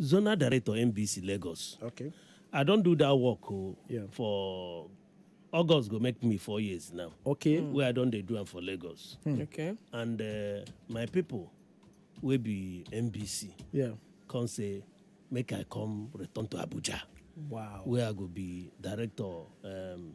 Zonal Director NBC Lagos. Okay. I don do that work o Yeah. for August go make me four years now. Okay. Wey I don dey do am for Lagos. Okay. And uh, my people wey be NBC Yeah. come say make I come return to Abuja Wow. where I go be director um,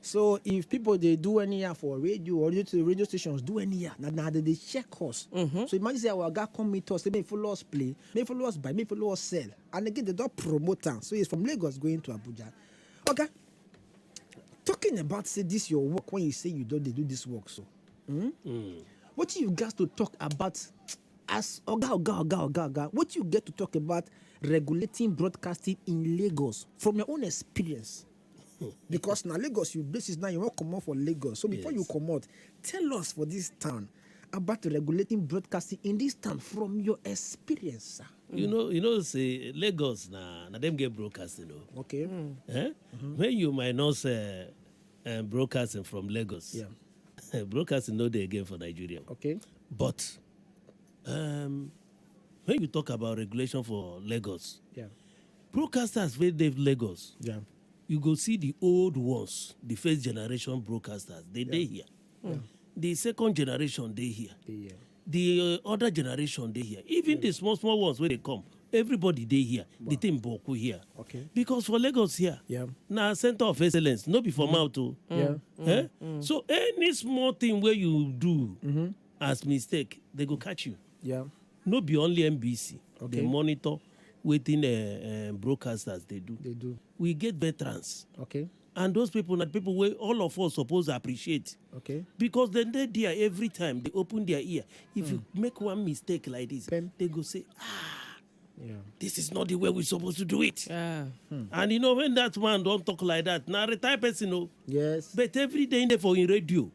so if people dey do anyhow for radio or radio to radio stations do anyhow na na dem dey check us Mhm. so imagine say our oga come meet us say make you follow us play make you follow us buy make you follow us sell and again dem don promote am so it's from lagos going to abuja oga talking about say this your work when you say you don dey do this work so mm? Mm. wetin you gats to talk about as oga oga oga oga oga wetin you get to talk about regulating broadcasting in lagos from your own experience because na lagos you basis now you wan comot for lagos so before you comot tell us for this town about regulating broadcasting in this town from your experience sir. you know you know say lagos na na dem get broadcasting o. Oh. okay. Mm. Eh? Mm-hmm. when you minus uh, uh, broadcasting from lagos. Yeah. broadcasting no dey again for nigeria. okay. but um, when you talk about regulation for lagos. Yeah. Broadcasters wey dey Lagos. Yeah. You go see the old ones, the first generation broadcasters, they dey here. Mm. The second generation dey here. Dey here. The uh, other generation dey here. Even the small small ones wey dey come, everybody dey here. Wow. The thing boku here. Okay. Because for Lagos here, yeah. na center of excellence, no be for mm. mouth o. Oh. Yeah. Mm. Eh? Mm. So any small thing wey you do mm -hmm. as mistake, they go catch you. Yeah. No be only NBC okay. dey monitor wetin uh, uh, broadcasters dey do. They do. We get veterans. Okay. And those people na people wey all of us suppose appreciate. Okay. Because dem dey there every time, they open their ear. If you make one mistake like this, Pem. they go say, ah, Yeah. this is not the way we suppose to do it. Yeah. And you know when that man don talk like that, na retired person o. Yes. But every day he dey for him radio.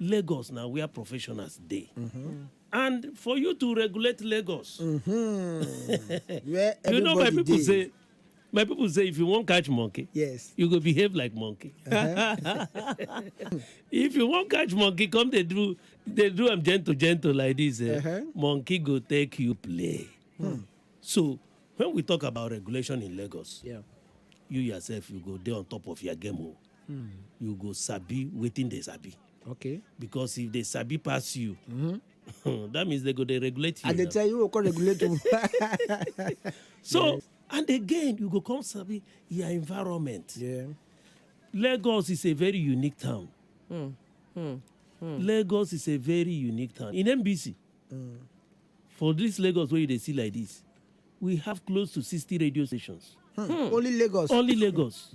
Lagos na where professionals dey. And for you to regulate Lagos, Where you know my everybody people dey. say my people say if you wan catch monkey, Yes. you go behave like monkey. if you wan catch monkey, come dey do dey do am gentle gentle like this. Eh? Uh-huh. Monkey go take you play. So when we talk about regulation in Lagos, Yeah. you yourself you go dey on top of your game o. mm. you go sabi wetin dey sabi okay because if they sabi pass you mm -hmm. that means they go dey regulate you and they tell you go come regulate you so yes. and again you go come sabi your environment yeah. lagos is a very unique town mm. Mm. Mm. lagos is a very unique town in nbc mm. for this lagos wey you dey see like this we have close to sixty radio stations. Hmm. Hmm. only lagos only lagos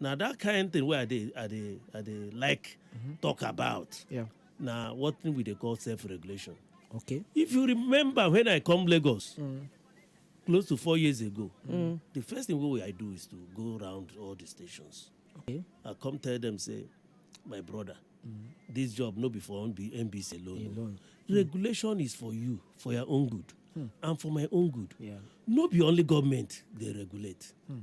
Now that kind thing where I dey, I dey, I dey like mm-hmm. talk about. Yeah. Now what thing we they call self-regulation. Okay. If you remember when I come Lagos, mm. close to four years ago, mm. the first thing what I do is to go around all the stations. Okay. I come tell them say, my brother, mm. this job no be for NBC alone. alone. Mm. Regulation is for you, for your own good, mm. and for my own good. Yeah. No be only government they regulate. Mm.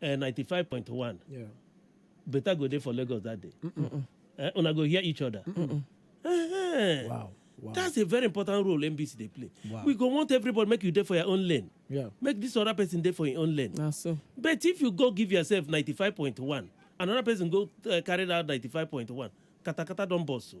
eh, 95.1 Yeah. better go dey for lagos that day Eh, una go hear each other Eh, Wow. Wow. that's a very important role nbc dey play Wow. we go want everybody make you dey for your own lane yeah. make this other person dey for im own lane na so but if you go give yourself 95.1 another person go uh, carry that 95.1 katakata don burst o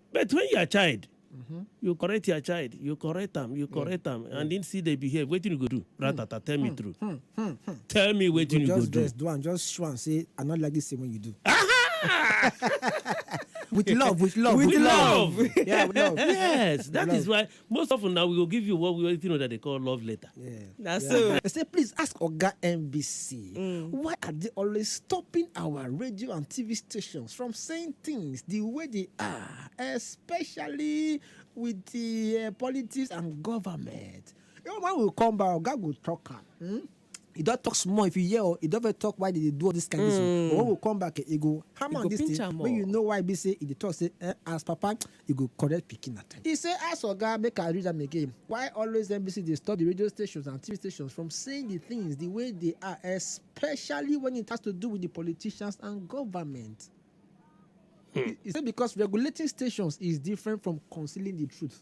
but when you are child mm-hmm. you correct your child you correct am you correct am yeah. and him still dey behave wetin you go do hmm. ratata tell me hmm. true hmm. Hmm. Hmm. tell me wetin you, you go do. just dress do am just show am say i no like this thing wey you do. with love with love with, with love. love. yeah with love. yes that love. is why most often na we go give you what we wetin una dey call love letter. na so They say, please ask Oga NBC, why are they always stopping our radio and TV stations from saying things the way they are, especially with the uh, politics and government? You know, when we come back, Oga will talk am. Hmm? He don talk small if you hear o, he don first talk why dey dey do all this kind this o. But when we come back, he go hammer on this thing make you know why be say he dey talk say eh, as papa, you go correct pikin at times. He say as oga, make I read am again, why always NBC dey stop the radio stations and TV stations from saying the things the way they are especially when it has to do with the politicians and government. He, he say because regulating stations is different from concealing the truth.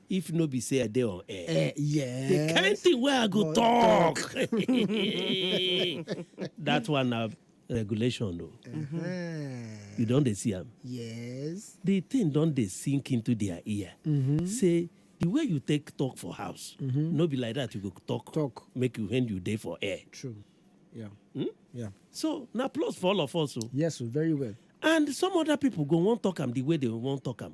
if no be say i dey on air Eh, yes. the kind thing wey i go Go talk that one na regulation o Eh, you don dey see am yes. the thing don dey sink into their ear say the way you take talk for house no be like that you go talk Talk. make you when you dey for air True. Yeah. Yeah. so na plus for all of us o Yes, oh, very well. and some other people go wan talk am the way they wan talk am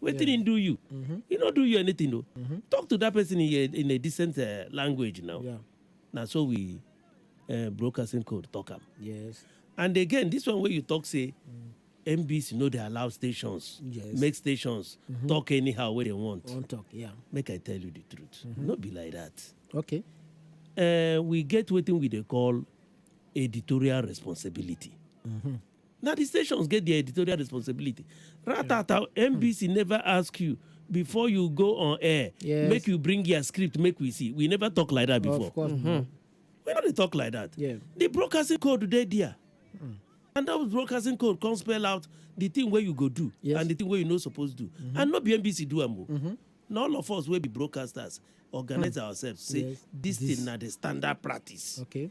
wetin yeah. him do you mm -hmm. he no do you anything o mm -hmm. talk to that person in a, in a decent uh, language now yeah. na so we uh, broadcasting code talk am yes and again this one wey you talk say mm. NBC no dey allow stations yes. make stations mm -hmm. talk anyhow wey they want. Won't talk, yeah. Make I tell you the truth. Mm -hmm. No be like that. Okay. Uh, we get wetin we dey call editorial responsibility. Mm -hmm. na di stations get dia editorial responsibility ratata nbc hmm. never ask you before you go on air yes. make you bring your script make we see we never talk like that before of course mm -hmm. we no dey talk like that yeah. the broadcasting code dey there mm. and that broadcasting code come spell out the thing wey you go do yes. and the thing wey you no suppose do mm -hmm. and no be nbc do am o mm -hmm. na all of us wey be broadcasters organize mm. ourselves say yes. this, this thing na the standard practice okay.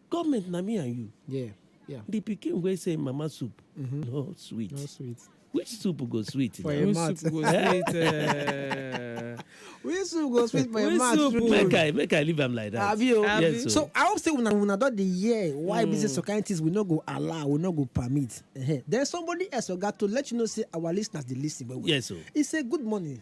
Government na me and you. Yeah, yeah. The pikin wey say mama soup mm-hmm. no sweet. No sweet. Which soup go sweet? For a mat. soup go sweet? Uh... Which soup go sweet for a mat? Make I make I leave am like that. Abi o. Yes, so. so I hope say una una don dey hear why mm. business societies we no go allow we no go permit. Uh-huh. Then somebody else oga to let you know say our listeners dey listen well well. Yes o. So. He say good morning.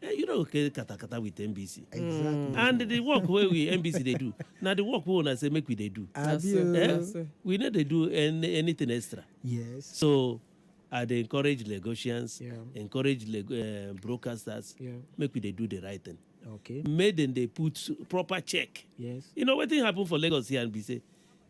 Eh, you no go carry katakata with nbc exactly and the work wey we nbc dey do na the work wey una say make we dey do abi so, o na so. eh we no dey do any anything extra yes so i dey encourage lagosians Yeah. encourage Lag- eh, broadcasters Yeah. make we dey do the right thing okay make dem dey put proper check yes you know wetin happen for lagos here and be say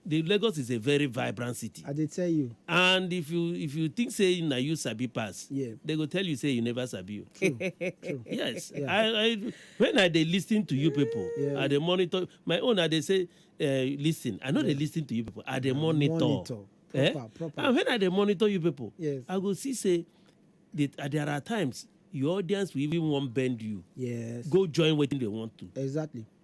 The Lagos is a very vibrant city. I dey tell you. And if you if you think say na you sabi pass, yeah. they go tell you say you never sabi you. True. True. Yes. Yeah. I, I when I dey listen to you people, yeah. I dey monitor my own. I dey say, uh, listen. I know yeah. they listen to you people. I dey monitor. monitor. Eh? Proper, eh? proper. And when I dey monitor you people, yes. I go see say that uh, there are times your audience will even want bend you. Yes. Go join what they want to. Exactly.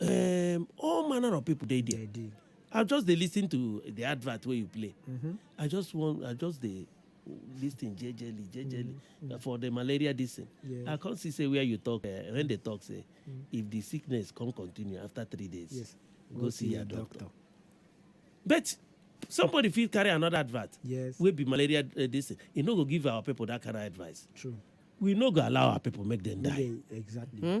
um, all manner of people dey there. Dey dey. I just dey lis ten to the advert wey you play. Mm-hmm. I just wan I just dey lis ten jejely jejely mm-hmm. for the malaria this thing. Yes. I come see say where you talk uh, when they talk say mm-hmm. if the sickness come continue after three days yes. go, go see, see your doctor. doctor. But somebody fit carry another advert yes. wey be malaria uh, this thing. E no go give our people that kind of advice. True. We no go allow our people make them die. Okay, exactly. Hmm?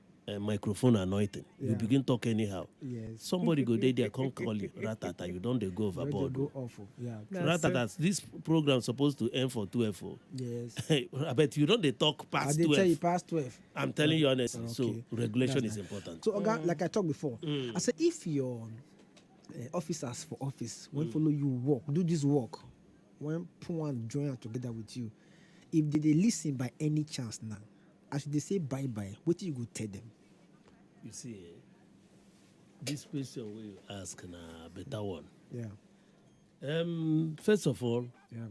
uh, microphone anointing yeah. you begin talk anyhow yes. somebody go there, there come call you ratata you don't they go overboard go awful. Oh. Yeah, ratata this program supposed to end for 12 oh. yes i bet you don't they talk past I 12 tell you past 12 i'm telling you honestly okay. so regulation That's is nice. important so oga mm. like i talked before mm. i said if your uh, officers for office when mm. follow you work do this work when put one join together with you if they, they listen by any chance now As you dey say bye bye, wetin you go tell dem? You see eh, this question wey you ask na better one. Yeah. Um, first of all, yeah.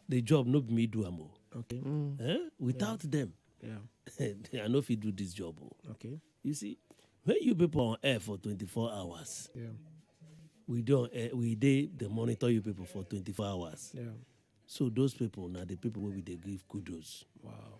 the job no be me do am o. Okay. Mm. Eh? Without yeah. them, yeah. I no fit do this job o. Okay. You see, when you people on air for 24 hours, yeah. we don uh, eh, we dey dey monitor you people for 24 hours. Yeah. So those people na the people wey we dey give kudos. Wow.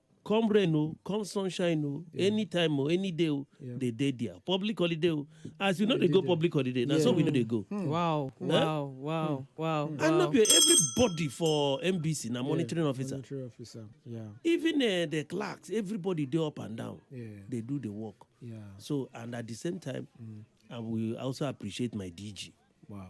come rain o come sunshine o yeah. anytime o any day o yeah. they dey there public holiday o as you no dey go public holiday na yeah. so we no dey go. Hmm. wow eh? wow wow hmm. wow. Hmm. and no be everybody for nbc na monitoring yeah, officer. monitoring officer yeah. even uh, the clerks everybody dey up and down yeah. dey do the work. Yeah. so and at the same time mm. i will also appreciate my dg. wow.